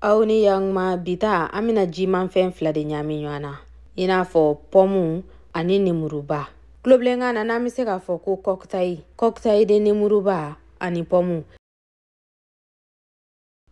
aw ni yanguma bi ta an bɛna jimafɛn fila de ɲaami ɲɔgɔn na i n'a fɔ pɔmu ani nemuruba tulobilenkan na n'an bɛ se k'a fɔ ko kɔkitayi kɔkitayi de nemuruba ani pɔmu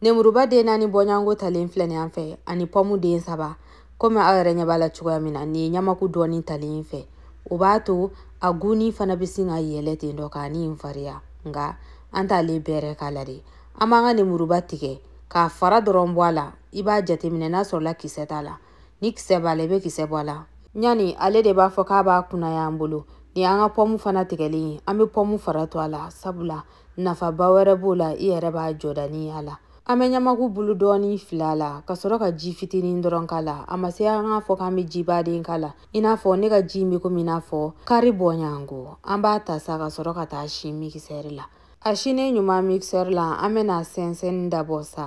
nemuruba den naani bɔɲɔgɔnko talen filɛ nin an fɛ ani pɔmu den saba komi aw yɛrɛ ɲɛ b'a la cogoya min na nin ye ɲamaku dɔɔni talen fɛ o b'a to a gu nin fana bɛ sin ka yɛlɛ ten dɔ k'a ni in fariya nka an t'ale bɛrɛ k'a la dɛ an b'an ka nemuruba tigɛ k'a fara dɔrɔn bɔ a la i b'a jateminɛ n'a sɔrɔla kisɛ t'a la ni kisɛ b'a la i bɛ kisɛ bɔ a la ɲani ale de b'a fɔ k'a b'a kunaya an bolo nin an ka pɔmu fana tigɛlen ye an bɛ pɔmu fara to a la sabula nafaba wɛrɛ b'o la i yɛrɛ b'a jɔda nin y'a la an bɛ ɲamaku bulu dɔɔni fili a la ka sɔrɔ ka ji fitinin dɔrɔn k'a la a ma se an k'a fɔ k'an bɛ jiba de k'a la i n'a fɔ ne ka ji in bɛ komi i n'a fɔ kari bɔɲanko an b'a ta sa ka sɔrɔ ka t'a si mikisɛri la A sinen ɲuman mixeur la an bɛna sɛnsɛn dabɔ sa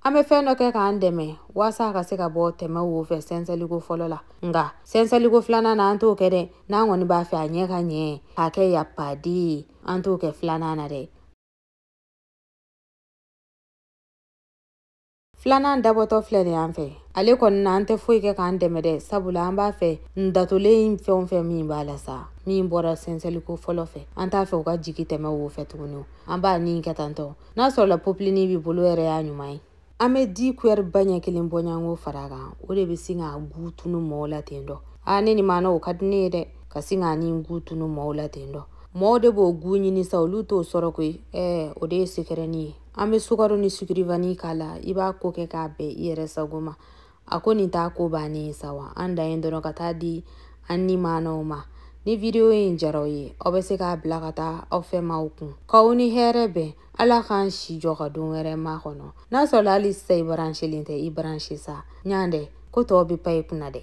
an bɛ fɛn dɔ kɛ k'an dɛmɛ waasa a ka se ka bɔ tɛmɛ wo fɛ sɛnsɛliko fɔlɔ la nka sɛnsɛliko filanan na an t'o kɛ dɛ n'an kɔni b'a fɛ a ɲɛ ka ɲɛ k'a kɛ yapadi ye an t'o kɛ filanan na dɛ filanan dabɔtɔ filɛ nin an fɛ ale kɔni na an tɛ foyi kɛ k'an dɛmɛ dɛ sabula an b'a fɛ n datolen fɛn o fɛn min b'a la sa min bɔra sɛnsɛliko fɔlɔ fɛ an t'a fɛ u ka jigi tɛmɛ wo fɛ tuguni an b'a ni kɛ tantɔ n'a sɔrɔla popilini b'i bolo yɛrɛ y'a ɲuman ye an bɛ di kuyɛri ba ɲɛ kelen bɔɲanko fara kan o de bɛ sin k'a gu tunu mɔɔw la ten dɔ a ne ni maana o ka di ne ye dɛ ka sin k'a ni gu tunu mɔɔw la ten dɔ mɔɔw de b'o gu ɲini sa olu t'o sɔrɔ koyi ɛɛ o de ye sekɛrɛni ye an bɛ sukaro ni sukirivani k'a la i b'a ko kɛ k'a bɛn i yɛrɛ sago ma a ko nin t'a ko bannen ye sa wa an dan ye dɔrɔn ka t'a di an ni maanaw ma ni vidiyo in jar'aw ye aw bɛ se k'a bila ka taa aw fɛ maaw kun k'aw ni hɛrɛ bɛn ala k'an si jɔ ka don wɛrɛ makɔnɔ n'a sɔrɔla hali sisan i baransilen tɛ i baransi sa ɲan dɛ ko tɔw bɛ pan i kunna dɛ